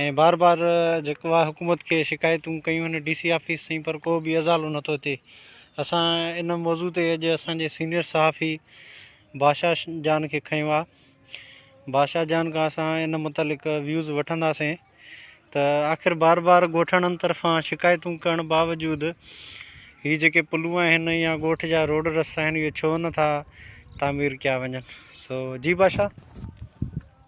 ۽ بار بار جيڪو آ حڪومت کي شڪايتون ڪيون آھن ڊي سي آفيس تائين پر ڪو به ازالو نٿو ٿئي اسان ان موضوع تي اڄ اسان جي سينئر صحافي بادشاھ جان کي کنيو آ بادشاھ جان کان اسان ان متعلق ويوز وٺنداسين ته آخر بار بار ڳوٺاڻن طرفان شڪايتون ڪرڻ باوجود هي جيڪي پلون آهن يا ڳوٺ جا روڊ رستا آهن اهي ڇو نٿا تعمير ڪيا وڃن سو جي بادشاھ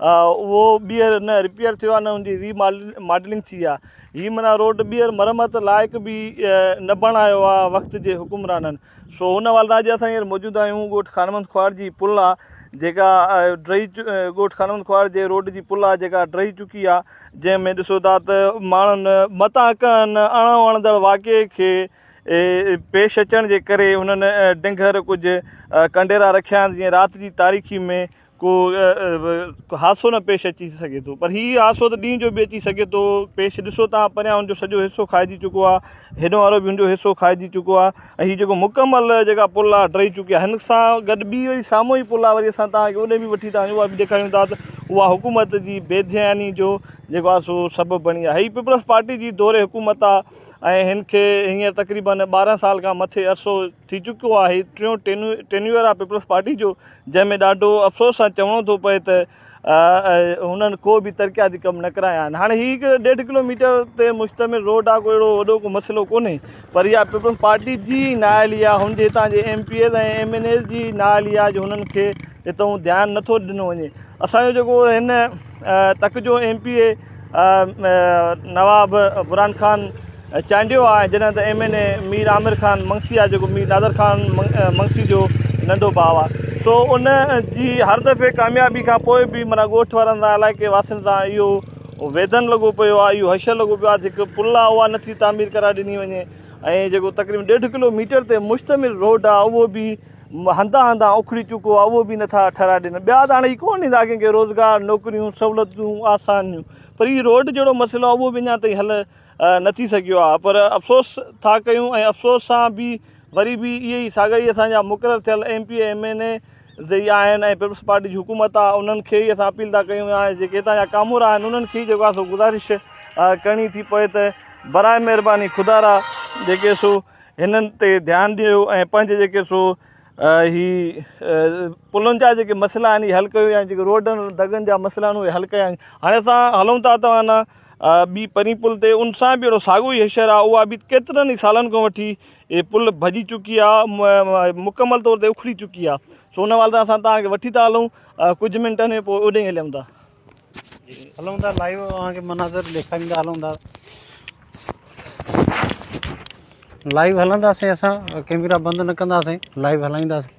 اهو ٻيهر نه رپيئر ٿيو آهي نه ان جي ري ماڊلنگ ٿي آهي هي معنيٰ روڊ ٻيهر مرمت لائق به نه بڻايو آهي وقت جي حڪمرانن سو هن حوالي سان اڄ اسان هينئر موجود آهيون ڳوٺ خانمند کهاڙ جي پل آهي جيڪا ڊهي ڳوٺ خانمند کهاڙ جي روڊ جي پل آهي جيڪا ڊهي چڪي آهي جنهن ۾ ڏسو ٿا ته ماڻهن متان ڪن اڻ وڻندڙ واقعي کي پيش اچڻ جي ڪري هنن ڊنگر ڪجهه ڪنڊيرا رکيا آهن جيئن رات جي تاريڪي ۾ ڪو حادثو نه پيش اچي سگهي ٿو پر هي حادثو ته ڏينهن جو به اچي سگهي ٿو پيش ڏسو تان پريان هن جو سڄو حصو کائجي چڪو آهي هيڏو وارو به هن جو حصو کائجي چڪو آهي ۽ هي جيڪو مڪمل جيڪا پل آهي ٽهي چڪي آهي هن سان گڏ ٻي وري سامهون ئي پل آهي وري اسان تان کي اوڏي به وٺي ٿا وڃون اها به ڏيکاريون ٿا ته اها حڪومت جي بي ڌياني جو جيڪو آهي سو سبب بڻي آهي هي پيپلز پارٽي جي دور حڪومت آهي ۽ هن کي هينئر تقريبن ٻارهن سال کان مٿي عرصو ٿي چڪو آهي ٽيون ٽينيو ٽينيوئر آهي پيپلز پارٽي جو جنهن ۾ ڏاڍو افسوس سان چوڻو ٿو پئي ته هنن ڪو به ترقياتي ڪم نه ڪرايا آهن. هاڻي هي هڪ ڏيڍ ڪلو ميٽر تي مشتمل روڊ آهي ڪو اهڙو وڏو ڪو مسئلو ڪونهي پر اها پيپلز پارٽي جي ئي نااهلي آهي هن جي هتان جي M P As ۽ M N As جي ئي نااهلي آهي جو هنن کي هتئون ڌيان نه ٿو ڏنو وڃي اسان جو جيڪو هن تڪ جو M P A Nawab Burhan Khan Chandio آهي جڏهن ته M N A Mir Amir Khan Mangsi آهي جيڪو مير نادر خان منگسي جو ننڍو ڀاء آهي سو ان جي هر دفعي ڪاميابي کان پوء به معنيٰ ڳوٺ وارن سان علائقي واسين سان اهو ويڌن لڳو پيو آهي اهو حشر لڳو پيو آهي ته هڪ پل آهي اها نٿي تعمير ڪرائي ڏني وڃي ۽ جيڪو تقريبن ڏيڍ ڪلو ميٽر تي مشتمل روڊ آهي اهو به هنڌان هنڌان اکڙي چڪو آهي اهو به نٿا ٺهرائي ڏين ٻيا ته هاڻي هي ڪونه ڏيندا ڪنهن کي روزگار نوڪريون سهولتون آسانيون پر هي روڊ جهڙو مسئلو آهي اهو به اڃا تائين حل نه ٿي سگهيو آهي پر افسوس ٿا ڪيون ۽ افسوس سان به وري به اهي ئي ساڳا ئي اسان جا مقرر ٿيل M P M N A زئي آهن ۽ پيپلز پارٽي جي حڪومت آهي انهن کي ئي اسان اپيل ٿا ڪيون يا جيڪي هتان جا ڪامورا آهن انهن کي جيڪو آهي سو گذارش ڪرڻي ٿي پوي ته برائي مهرباني خدا را جيڪي سو هنن تي ڌيان ڏيو ۽ پنهنجي جيڪي سو هي پلن جا جيڪي مسئلا آهن اهي حل ڪيو يا جيڪي روڊن دڳن جا مسئلا آهن اهي حل ڪيا آهن هاڻي اسان هلون ٿا توهان ٻي پرين پل تي ان سان به اهڙو ساڳيو ئي حشر آهي، اها به ڪيترن ئي سالن کان وٺي اهي پل ڀڄي چڪي آهي، مڪمل طور تي اکڙي چڪي آهي، سو ان والدان اسان توهان کي وٺي ٿا هلون، ڪجهه منٽن ۾ پوء اوڏانهن هليون ٿا. هلون ٿا لائيو اوهان کي مناظر ڏيکاريندا هلون ٿا. لائيو هلنداسين اسان ڪيميرا بند نه ڪنداسين لائيو هلائينداسين.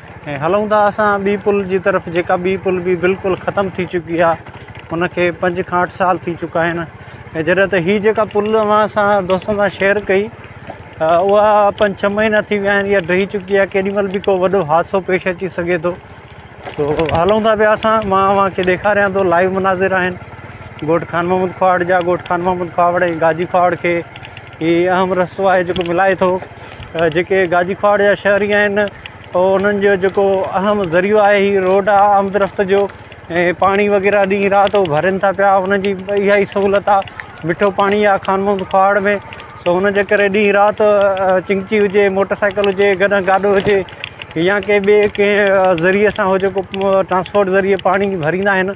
۽ هلون ٿا اسان ٻي پل جي طرف جيڪا ٻي پل به بلڪل ختم ٿي چڪي آهي ان کي پنج کان اٺ سال ٿي چڪا آهن ۽ جڏهن ته هي جيڪا پل اوهان سان دوستن سان شيئر ڪئي اها پنج ڇهه مهينا ٿي ويا آهن اها ڊهي چڪي آهي ڪيڏي مهل به ڪو وڏو حادثو پيش اچي سگهي ٿو تو هلون ٿا پيا اسان مان اوهان کي ڏيکاريان ٿو لائيو مناظر آهن ڳوٺ خان محمد کواڙ جا ڳوٺ خان محمد کواڙ ۽ گاجي کواڙ کي هي اهم رستو آهي جيڪو ملائي ٿو جيڪي گاجي کواڙ جا شهري آهن انهن جو جيڪو اهم ذريعو آهي هي روڊ آهي آمد رفت جو ۽ پاڻي وغيره ڏينهن رات هو ڀرين ٿا پيا انهن جي اها ئي سهولت آهي مٺو پاڻي آهي خان محمد کواڙ ۾ سو ان جي ڪري ڏينهن رات چنگچي هجي موٽر سائيڪل هجي گڏهن گاڏو هجي يا ڪنهن ٻئي ڪنهن ذريعي سان هو جيڪو ٽرانسپورٽ ذريعي پاڻي ڀريندا آهن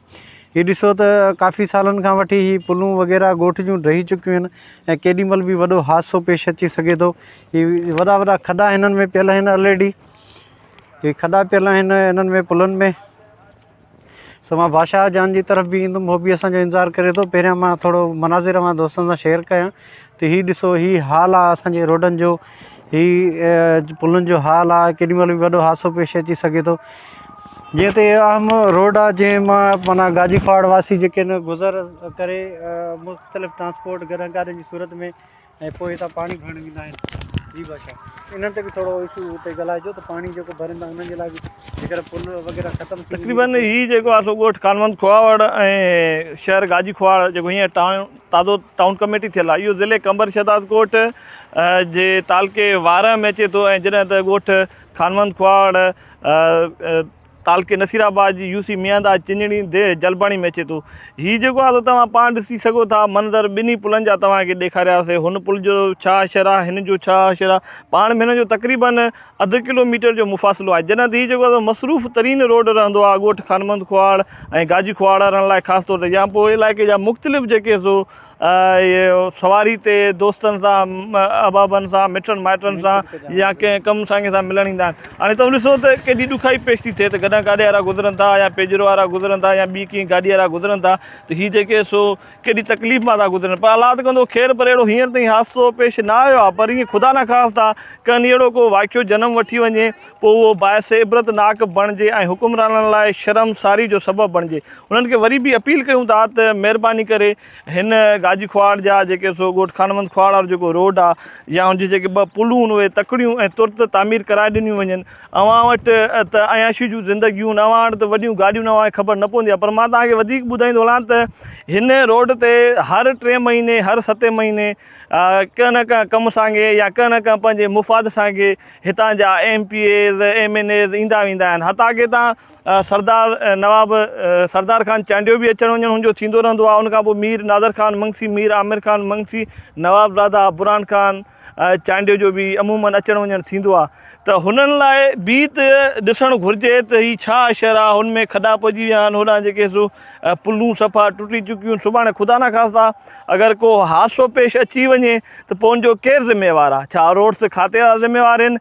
هي ڏسو ته ڪافي سالن کان وٺي هي پلون وغيره ڳوٺ جون ڊهي چڪيون آهن ۽ ڪيڏي مهل به وڏو حادثو پيش اچي سگهي ٿو هي وڏا وڏا کڏا هنن ۾ پيل آهن آلريڊي هي کڏا پيل آهن هنن ۾ پلن ۾ سو مان بادشاهه جان جي طرف به ايندم هو به اسانجو انتظار ڪري ٿو پهريان مان ٿورو مناظر اوهان دوستن سان شيئر ڪيا ته هي ڏسو هي حال آ اسان جي روڊن جو هي پلن جو حال آ ڪيڏي مهل به وڏو حادثو پيش اچي سگهي ٿو جنهن تي اهم روڊ آ جنهن مان معنيٰ گاجي ڦاڙ واسي جيڪي نه گذر ڪري مختلف ٽرانسپورٽ گهرن گاڏين جي صورت ۾ ۽ پوء هتان پاڻي ڀرڻ ويندا آهن جي بادشاهه انهن تي به ٿورو اشو تي ڳالهائجو ته پاڻي جيڪو ڀرين ٿا انهن جي لاء به جيڪڏهن پل وغيره ختم تقريبن هي جيڪو آ سو ڳوٺ ڪانوند کهاوڙ ۽ شهر گاجي کهاوڙ جيڪو هينئر ٽائون تازو ٽائون ڪميٽي ٿيل آهي. اهو ضلعي قمبر شهدادڪوٽ جي تعلقي وارهه ۾ اچي ٿو ۽ جڏهن ته ڳوٺ خانوند کهاڙ تعلقي نصير آباد جي يو سي ميانداد چنڙي ديھ جلباڻي ۾ اچي ٿو. هي جيڪو آهي سو توهان پاڻ ڏسي سگهو ٿا منظر ٻنهي پلن جا توهان کي ڏيکارياسي هن پل جو ڇا شرح هن جو ڇا شرح پاڻ ۾ هن جو تقريبن اڌ ڪلو ميٽر جو مفاصلو آهي جڏهن ته هي جيڪو آهي مصروف ترين روڊ رهندو آهي ڳوٺ خانمند کهاڙ ۽ گاجي کهاڙ وارن لاء خاص طور تي يا پوء علائقي جا مختلف جيڪي سو سواري تي دوستن سان احبابن سان مٽن مائٽن سان يا ڪنهن ڪم سانگي سان ملڻ ايندا آهن هاڻي توهان ڏسو ته ڪيڏي ڏکائي پيش ٿي ٿئي ته گڏهه گاڏي وارا گذرن ٿا يا پيجرو وارا گذرن ٿا يا ٻي ڪنهن گاڏي وارا گذرن ٿا ته هي جيڪي سو ڪيڏي تڪليف مان ٿا گذرن پر الله ته ڪندو خير پر اهڙو هينئر تائين حادثو پيش نه آيو آهي پر ايئن خدا نخواسته ڪنهن ڏينهن اهڙو ڪو واقعو جنم وٺي وڃي پوء اهو باعث عبرت ناڪ بڻجي ۽ حڪمرانن لاء شرم ساري جو سبب بڻجي انهن کي وري به اپيل ڪيون ٿا ته مهرباني ڪري هن گاجي کهاڙ جا جيڪي سو ڳوٺ خانوند کهاڙ وارو جيڪو روڊ آهي يا ان جي جيڪي ٻه پلون اهي تڪڙيون ۽ ترت تعمير ڪرائي ڏنيون وڃن اوهان وٽ ته عياشي جون زندگيون، اوهان وٽ ته وڏيون گاڏيون اوهان کي خبر نه پوندي پر مان توهان کي وڌيڪ ٻڌائيندو هلان ته هن روڊ تي هر ٽئين مهيني هر ستين مهيني ڪنهن نه ڪنهن ڪم سانگي يا ڪنهن نه ڪنهن پنهنجي مفاد سانگي هتان جا M P As M N As ايندا ويندا آهن حتيٰ ڪي تان سردار نواب سردار خان چانڊيو به اچڻ وڃڻ هن جو ٿيندو رهندو آهي ان کان پوء مير نادر خان منگسي مير عامر خان منگسي نواب زاده برهان خان چانڊيو جو به عموماً اچڻ وڃڻ ٿيندو آهي ته هنن لاء به ته ڏسڻ گهرجي ته هي ڇا شهر آهي هن ۾ کڏا پئجي ويا آهن هوڏانهن جيڪي سو پلون صفا ٽٽي چڪيون آهن سڀاڻي خدا نخواسته اگر ڪو حادثو پيش اچي وڃي ته پوء ان جو ڪير ذميوار آهي ڇا روڊس کاتي وارا ذميوار آهن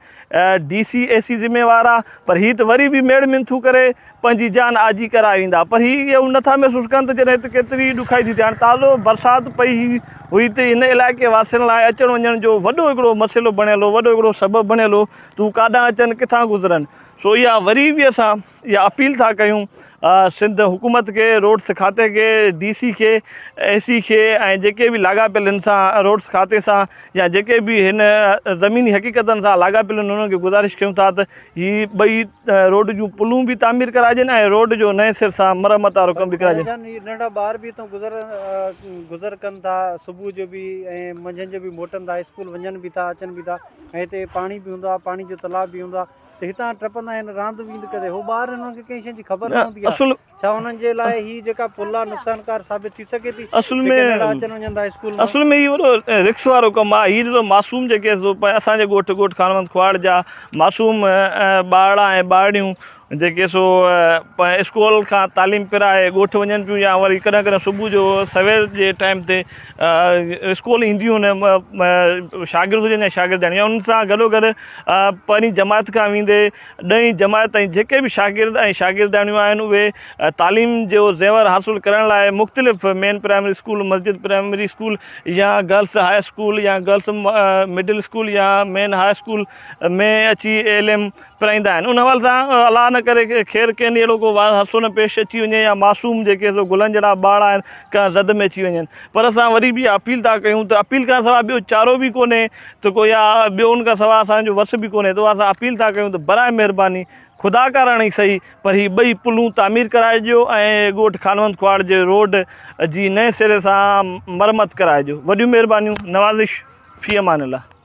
ڊي سي اي سي ذميوار آ پر هي ته وري به ميڙ منٿون ڪري پنهنجي جان آجي ڪرائي ايندا پر هي اهو نه ٿا محسوس ڪن ته جڏهن هت ڪيتري ڏکائي ٿي ٿئي هاڻي تازو برسات پئي هئي ته هن علائقي واسين لاء اچڻ وڃڻ جو وڏو هڪڙو مسئلو بڻيل هو وڏو هڪڙو سبب بڻيل هو ته هو ڪاڏانهن اچن ڪٿان گذرن سو اها وري به اسان اها اپيل ٿا ڪيون سنڌ حڪومت کي، روڊس کاتي کي، ڊي سي کي، اي سي کي ۽ جيڪي به لاڳاپيل هن سان روڊس کاتي سان يا جيڪي به هن زميني حقيقتن سان لاڳاپيل هن انهن کي گذارش ڪيون ٿا ته هي ٻئي روڊ جون پلون به تعمير ڪراجن ۽ روڊ جو نئين سر سان مرمت وارو ڪم به ڪراجي. جان هي ننڍا ٻار به هتان گذر گذر ڪن ٿا صبح جو به ۽ منجهند جو به موٽن ٿا اسڪول وڃن به ٿا اچن به ٿا ۽ هتي پاڻي به هوندو آهي پاڻي جو تلاء به هوندو آهي ته هتان ٽپندا آهن راند ويند ڪندي هو ٻار آهن انهن کي ڪنهن شيء جي خبر نه هوندي آهي ڇا انهن جي لاء هي جيڪا پل آهي نقصانڪار ثابت ٿي سگهي ٿي جيڪي ننڍڙا اچن وڃن ٿا اسڪول مان اصل ۾ هي وڏو رڪس وارو ڪم آهي هي ڏسو معصوم جيڪي اسان جي ڳوٺ ڳوٺ خانوند کواڙ جا معصوم ٻارڙا ۽ ٻارڙيون جيڪي سو اسڪول کان تعليم پرائي ڳوٺ وڃن پيون يا وري ڪڏهن ڪڏهن صبح جو سوير جي ٽائيم تي اسڪول اينديون هن شاگرد هجن يا شاگردياڻيون يا ان سان گڏو گڏ پهرين جماعت کان ويندي ڏهين جماعت تائين جيڪي به شاگرد ۽ شاگردياڻيون آهن اهي تعليم جو زيور حاصل ڪرڻ لاء مختلف مين پرائمري اسڪول مسجد پرائمري اسڪول يا گرلس هاء اسڪول يا گرلس مڊل اسڪول يا مين هاء اسڪول ۾ اچي علم پرائيندا آهن ان حوالي سان الله نه ڪري خير ڪنهن ڏينهن اهڙو ڪو حادثو نه پيش اچي وڃي يا معصوم جيڪي سو گلن جهڙا ٻارڙا آهن ڪنهن زد ۾ اچي وڃن پر اسان وري به اها اپيل ٿا ڪيون ته اپيل کان سواء ٻيو چارو به ڪونهي ته ڪو يا ٻيو ان کان سواء اسان جو وس به ڪونهي ته اها اسان اپيل ٿا ڪيون ته براء مهرباني خدا ڪارڻ ئي سهي پر هي ٻئي پلون تعمير ڪرائي ڏيو ۽ ڳوٺ خانوند ڪهاڙ جي روڊ جي نئين سري سان مرمت ڪرائي ڏيو وڏيون مهربانيون نوازش في امان الله.